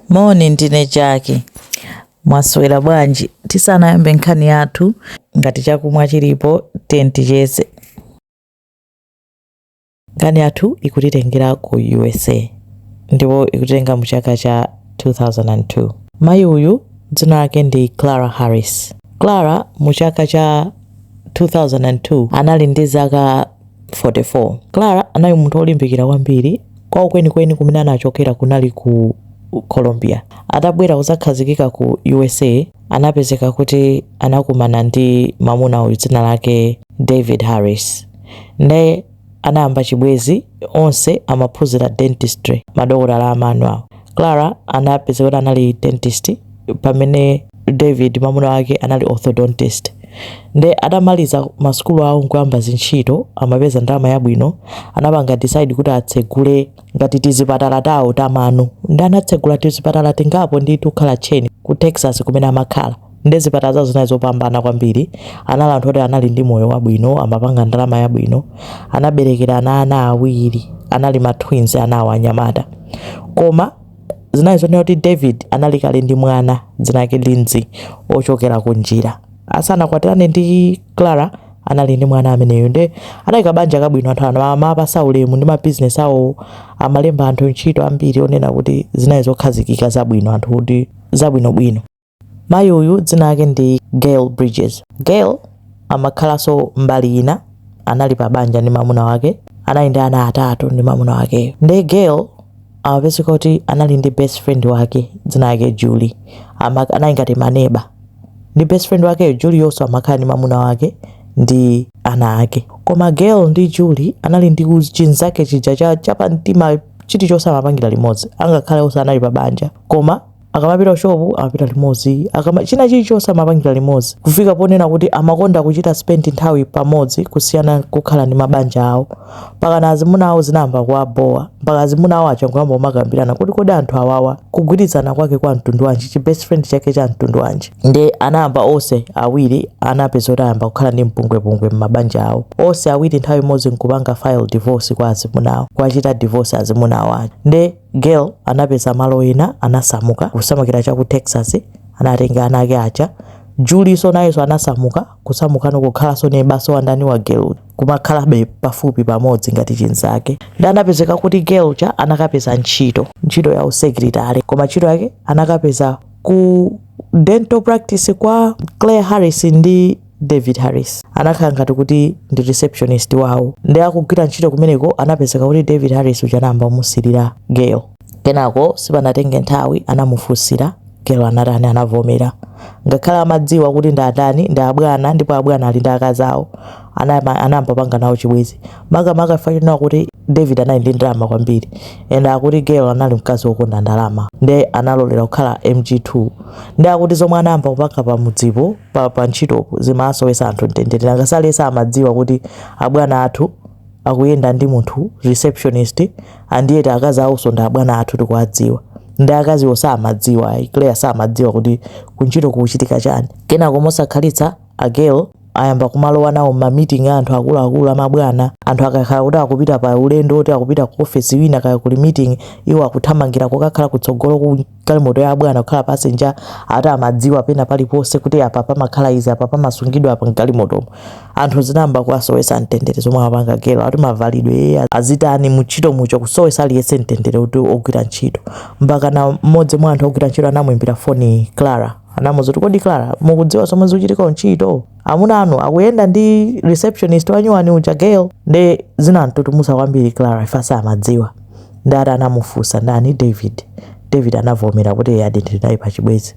Moni, ndine Jaki. Mwaswera bwanji? Tisanayambe nkhani yathu, ngati chakumwa chilipo, tiye ticheze. Nkhani yathu ikutitengera ku USA ndipo ikutitenga mu chaka cha 2002. Mayi uyu dzina lake ndi Clara Harris. Clara mu chaka cha 2002 anali ndi zaka 44, Clara anali munthu wolimbikira kwambiri. Kwawo kwenikweni kumene anachokera kunali ku Colombia. Atabwera kudzakhazikika ku U.S.A. anapezeka kuti anakumana ndi mwamuna uyu dzina lake David Harris. Nde anayamba chibwenzi, onse amaphunzira dentistry, madokotala a mano awo. Clara anapezeka kuti anali dentist. pamene david mamuna wake anali orthodontist nde atamaliza masukulu awo nkuyamba zintchito amapeza ndalama yabwino anapanga decide kuti atsegule ngati tizipatala tawo tamano nde anatsegula tizipatala tingapo nditu kukhala tcheni ku texas kumene amakhala nde zipatala zawo zinali zopambana kwambiri anali anthu oti anali ndi moyo wabwino amapanga ndalama yabwino anaberekera ana ana awiri anali ma twins anawo anyamata koma Zinali zonena kuti David anali kale ndi mwana dzina lake Lindsay wochokera kunjira. Asanakwatirane ndi Clara anali ndi mwana ameneyo nde anali kabanja kabwino anthu ankawapatsa ulemu ndi mabizinesi awowo amalemba anthu ntchito ambiri onena kuti zinali zokhazikika zabwino anthu kuti zabwinobwino. Mayi uyu dzina lake ndi Gail Bridges. Gail amakhalanso mbali ina, anali pa banja ndi mwamuna wake, anali ndi ana atatu ndi mwamuna wakeyo. Ndiye Gail amapezeka kuti anali ndi best friend wake dzina lake Julie, Ama- anali ngati maneba ndi best friend wakeyo Julieyonso amakhala ndi mwamuna wake ndi ana ake. Koma Gail ndi Julie anali ndi uz- chinzake chija cha chapamtima chilichonse amapangira limodzi, angakhale onse anali pa banja koma akamapita kushopu amapita limodzi akama china chilichonse amapangira limodzi kufika ponena kuti amakonda kuchita spend nthawi pamodzi kusiyana kukhala ndi mabanja awo mpakana azimuna awo zinayamba kuwabowa mpaka azimuna awo aja nkuyamba kumakambirana kuti kodi anthu awawa kugwirizana kwake kwa mtundu wanji chi best friend chake cha mtundu wanji nde anayamba onse awiri anapezeka kuti ayamba kukhala ndi mpungwepungwe m'mabanja awo onse awiri nthawi imodzi nkupanga file divorce kwa azimuna awo kuwachita divorce azimuna awo aja nde Gail anapeza malo ena, anasamuka kusamukira cha ku Texas, anatenga ana ake aja. Julienso nayenso anasamuka kusamukano kukhalanso nebanso wa ndani wa Gail uja, kumakhalabe pafupi pamodzi ngati chinzake. Nde anapezeka kuti Gail uja anakapeza ntchito, ntchito ya usekilitale, koma ntchito yake anakapeza ku dental practice kwa Clara Harris ndi David Harris anakhala ngati kuti ndi receptionist wawo nde akugwira ntchito kumeneko anapezeka kuti David Harris uja anayamba kumusilira Gail. Kenako sipanatenge nthawi anamufunsira, Gail anatani? Anavomera. Ngakhale amadziwa kuti ndi atani, ndi abwana ndipo abwana ali ndi akazi awo, anayamba kupanga nawo chibwenzi. makamaka chifukwa chonena kuti david anali ndi ndalama kwambiri and akuti gail anali mkazi wokonda ndalama nde analolera kukhala mg2 nde akuti zomwe anayamba kupanga pamudzipo pa, pa ntchitopo zimasowetsa anthu mtendere nanga si onse amadziwa kuti abwana athu akuyenda ndi munthu receptionist and yet akazi awonso ndi abwana athu tikuwadziwa ndi akaziwo samadziwa ayi clara samadziwa kuti kuntchito kukuchitika chani kenako mosakhalitsa a gail ayamba kumalowa nawo m'ma meeting a anthu akuluakulu amabwana. Anthu akakhala kuti akupita pa ulendo woti akupita ku ofesi ina kaya kuli meeting, iwo akuthamangira kokakhala kutsogolo kwa galimoto ya abwana kukhala passenger, ati amadziwa pena paliponse kuti apa pamakhala izi, apa pamasungidwa apa m'galimotomo. Anthu zinayamba kuwasowetsa mtendere zomwe amapanga Gail, ati mavalidwe ee, azitani, mu ntchito muja kusowetsa aliyense mtendere wogwira ntchito. Mpakana mmodzi mwa anthu ogwira ntchito anamuimbira foni Clara. anamuuza kuti kodi clara mukudziwa zomwe zikuchitika kuntchito amuna anu akuyenda ndi receptionist wanyuwani uja gail nde zinamtutumusa kwambiri clara if samadziwa nde ati anamufunsa ndani david david anavomera kuti eyadi ndili naye pachibwenzi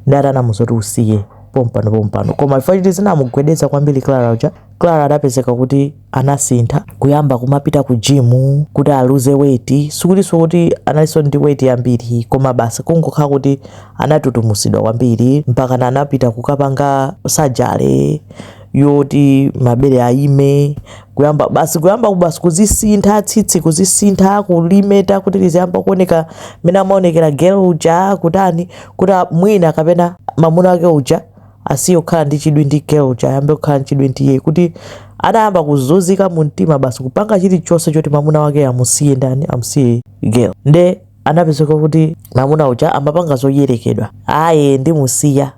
nde ati anamuuza kuti usiye pompano pompano koma if chiti zinamugwedeza kwambiri clara uja Clara anapezeka kuti anasintha kuyamba kumapita ku gym kuti aluze weight sikutinso kuti analinso ndi weight yambiri koma basi kungokhala kuti anatutumusidwa kwambiri mpakana anapita kukapanga surgery yoti mabere ayime kuyamba basi kuyamba basi kuzisintha tsitsi kuzisintha kulimeta kuti liziyamba kuoneka mmene amaonekera Gail uja kutani kuti mwina kapena mamuna ake uja asiye kukhala ndi chidwi ndi Gail uja ayambe kukhala ndi chidwi ndi iye akuti anayamba kuzunzika mu mtima basi kupanga chilichonse choti mamuna wake amusiye ndani amusiye Gail nde anapezeka kuti mamuna uja amapanga zoyerekedwa ayi ndimusiya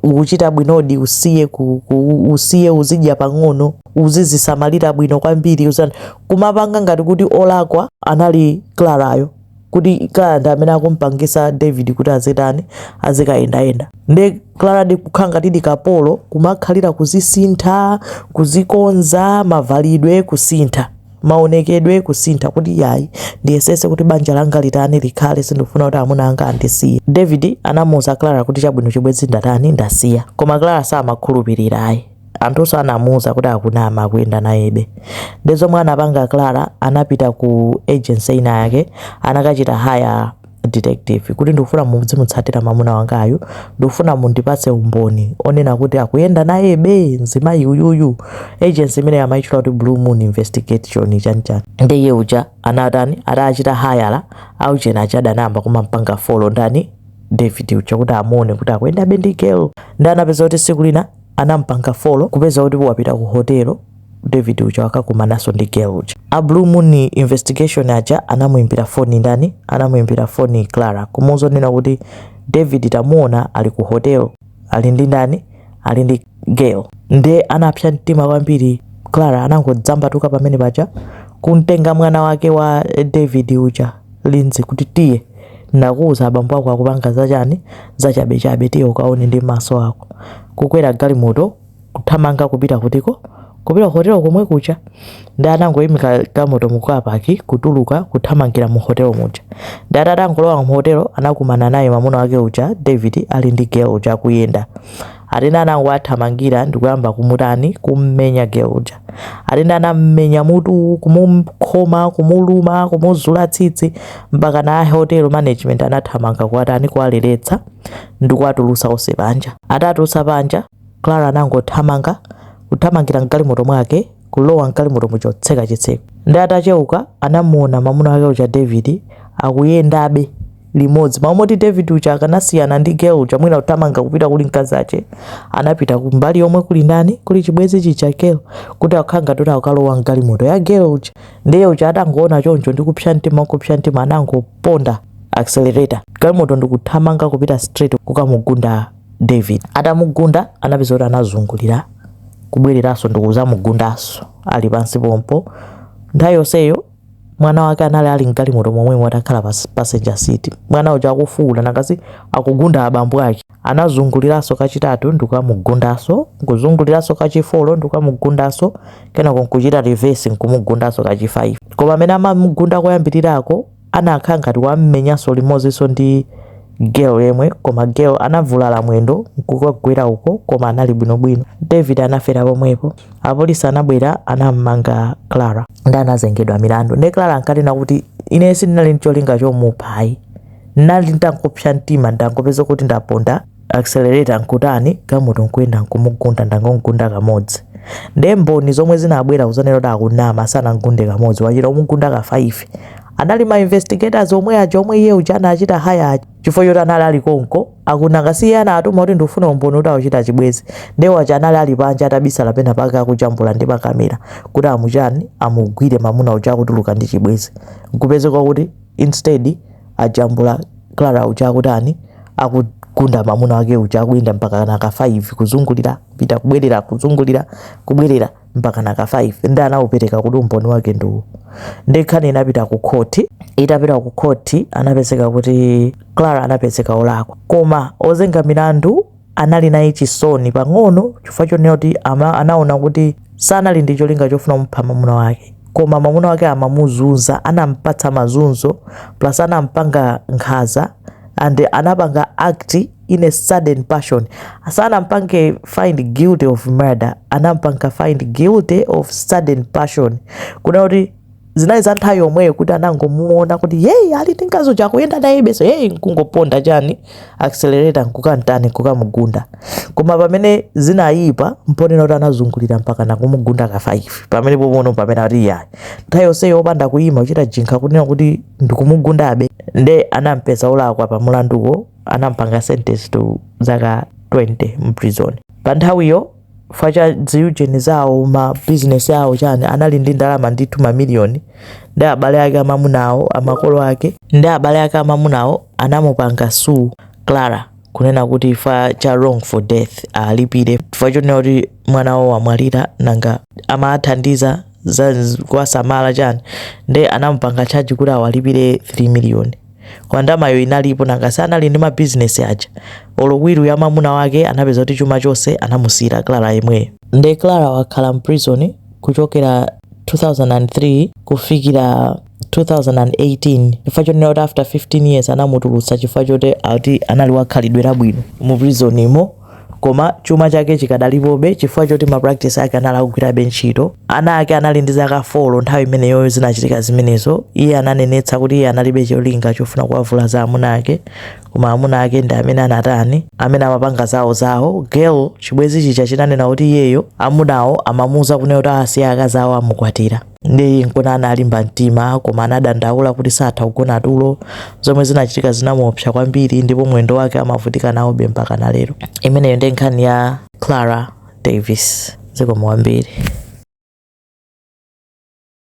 ukuchita bwinodi usiye ku, ku, usiye uzidya pang'ono uzizisamalira bwino kwambiri uzani kumapanga ngati kuti wolakwa anali Clarayo kuti Clara ndi amene akumpangitsa David kuti azitani azikayendayenda nde Claradi kukhala ngatidi kapolo kumakhalira kuzisintha kuzikonza mavalidwe kusintha maonekedwe kusintha kuti iyayi ndiyesetse kuti banja langa litani likhale sindikufuna kuti amuna anga andisiye David anamuuza Clara kuti chabwino chibwenzi ndatani ndasiya koma Clara samakhulupirira ayi anthunso anamuuza kuti akunama akuyenda nayebe nde zomwe anapanga clara anapita ku agency ina yake anakachita haya detective kuti ndikufuna muzimutsatira mamuna wangayu ndikufuna mundipatse umboni onena kuti akuyenda nayebe mzimayi uyuyu agency imene amayitchula kuti blue moon investigation chanichani nde iye uja anatani atachita hayala auchena achada anayamba kumampanga folo ndani david uja kuti amuone kuti akuyendabe ndi girl ndi anapeza kuti siku lina anampanga follow kupeza kuti wapita ku hotel David uja akakumananso ndi girl uja. A Blue Moon investigation aja anamuimbira foni ndani? Anamuimbira foni Clara kumuuza nena kuti David tamuona ali ku hotel ali ndi ndani? Ali ndi girl. Nde anapsa mtima kwambiri Clara anangodzambatuka pamene paja kumtenga mwana wake wa David uja Lindsay kuti tiye nakuuza abambo ako akupanga zachani zachabechabe tiye ukaone ndi maso ako. Kukwera galimoto kuthamanga kupita kutiko? Kupita ku hotelo komwe kuja. Ndi anangoimika galimoto mu car park kutuluka kuthamangira mu hotelo muja. Ndi atati angolowa mu hotelo anakumana naye mamuna wake uja David ali ndi girl uja akuyenda. Atene anangowathamangira ndikuyamba kumutani kummenya girl uja. Atene anammenya mutu kumukhoma kumuluma kumuzula tsitsi mpaka na hotel management anathamanga kuwatani kuwaleletsa ndikuwatulusa onse panja. Atatuluka panja Clara anangothamanga kuthamangira mgalimoto mwake kulowa mgalimoto muja kutseka chitseko. Ndi atacheuka anamuona mamuna wake uja David akuyendabe limodzi mmalo moti David uja akanasiyana ndi girl uja mwina kuthamanga kupita kuli mkazi wake anapita kumbali yomwe kuli ndani kuli chibwenzi chija girl kuti akhanga kuti akalowa mgalimoto ya girl uja ndiye uja atangoona choncho ndi kupsa mtima kupsa mtima anangoponda accelerator galimoto ndikuthamanga kupita straight kukamugunda David atamugunda anapeza kuti anazungulira kubwereranso ndikuzamugundanso ali pansi pompo nthawi yonseyo mwana wake anali ali mgalimoto momwemo atakhala pa passenger seat mwana uja akufuwula kuti akugunda abambo ake anazunguliranso kachitatu ndikukamugundanso nkuzunguliranso kachifolo ndikukamugundanso kenako nkuchita reverse nkumugundanso kachi 5 koma amene amamugunda koyambirirako anakhala ngati wammenyanso limodzinso ndi girl yemwe koma girl anavulala mwendo nkukagwera uko koma anali bwinobwino. David anafera pomwepo. Apolisi anabwera anammanga Clara ndi anazengedwa milandu. Nde Clara ankanena kuti ine sindinali ndi cholinga chomupha ayi. Ndinali nditangopsa mtima ndangopeza kuti ndaponda accelerator nkutani galimoto nkuyenda nkumugunda ndangomgunda kamodzi. Nde mboni zomwe zinabwera kuzanena kuti akunama sanamgunde kamodzi wachita kumugunda ka 5 anali ma investigators omwe aja omwe iye uja anachita hire aja chifukwa choti anali ali konko aku nanga si iye anatuma kuti ndikufuna umboni kuti akuchita chibwenzi ndiye waja anali ali panja atabisala pena pake akujambula ndi makamera kuti amu chani amugwire mamuna uja akutuluka ndi chibwenzi kupezeka kuti instead ajambula clara uja akutani akugunda mamuna wake uja akuyenda mpakana ka 5 kuzungulira kupita kubwerera kuzungulira kubwerera mpakana ka 5 ndi anaupereka kuti umboni wake ndi uwu nde nkhani inapita ku khoti itapita ku khoti anapezeka kuti clara anapezeka olakwa koma ozenga milandu anali naye chisoni pang'ono chifukwa chonena kuti anaona kuti sanali ndi cholinga chofuna kumupha mwamuna wake koma mwamuna wake amamuzunza anampatsa mazunzo plus anampanga nkhaza and anapanga act in a sudden passion sanampange find guilty of murder anampanga find guilty of sudden passion kunena kuti zinali za nthawi yomweyo kuti anangomuona kuti eyi ali ndi mkazi uja akuyenda naye besi eyi nkungoponda chani accelerator nkukamutani nkukamugunda koma pamene zinayipa mponena kuti anazungulira mpakana kumugunda ka 5 pamene pomwepo pamene ati yayi nthawi yonseyo opanda kuyima kuchita think kunena kuti ndikumugundabe nde anampeza olakwa pa mulanduwo anampanga sentence to zaka 20 mu prison pa nthawiyo chifukwa cha ziujeni zawo ma business awo chani anali ndi ndalama ndithu mamiliyoni nde abale ake amamuna awo makolo ake ndi abale ake amamuna awo anamupanga sue clara kunena kuti chifukwa cha wrongful death alipire chifukwa chonena kuti mwana wawo wamwalira nanga amathandiza za kuwasamala chani nde anamupanga charge kuti awalipire 3 miliyoni koma ndalamayo inalipo nanga si anali ndi mabizinesi aja olo will ya mamuna wake anapeza kuti chuma chonse anamusiyira clara yemweyo nde clara wakhala mprison kuchokera 2003 kufikira 2018 chifukwa chonena kuti after 15 years anamutulutsa chifukwa choti ati anali wakhalidwe labwino mu prisonimo Koma chuma chake chikadalipobe chifukwa choti ma practice ake anali akugwirabe ntchito. Ana ake anali ndi zaka 4 nthawi imeneyoyo zinachitika zimenezo. Iye ananenetsa kuti iye analibe cholinga chofuna kuwavulaza amuna ake, koma amuna ake ndi amene anatani, amene amapanga zawo zawo. Girl, chibwenzi chija chinanena kuti iyeyo amunawo amamuuza kunena kuti asiya akazi awo amukwatira. nde nkona analimba mtima koma anadandaula kuti satha kugona tulo zomwe zinachitika zinamuopsa kwambiri ndipo mwendo wake amavutika nawobe mpakana lero imeneyo ndi nkhani ya clara davis zikomo kwambiri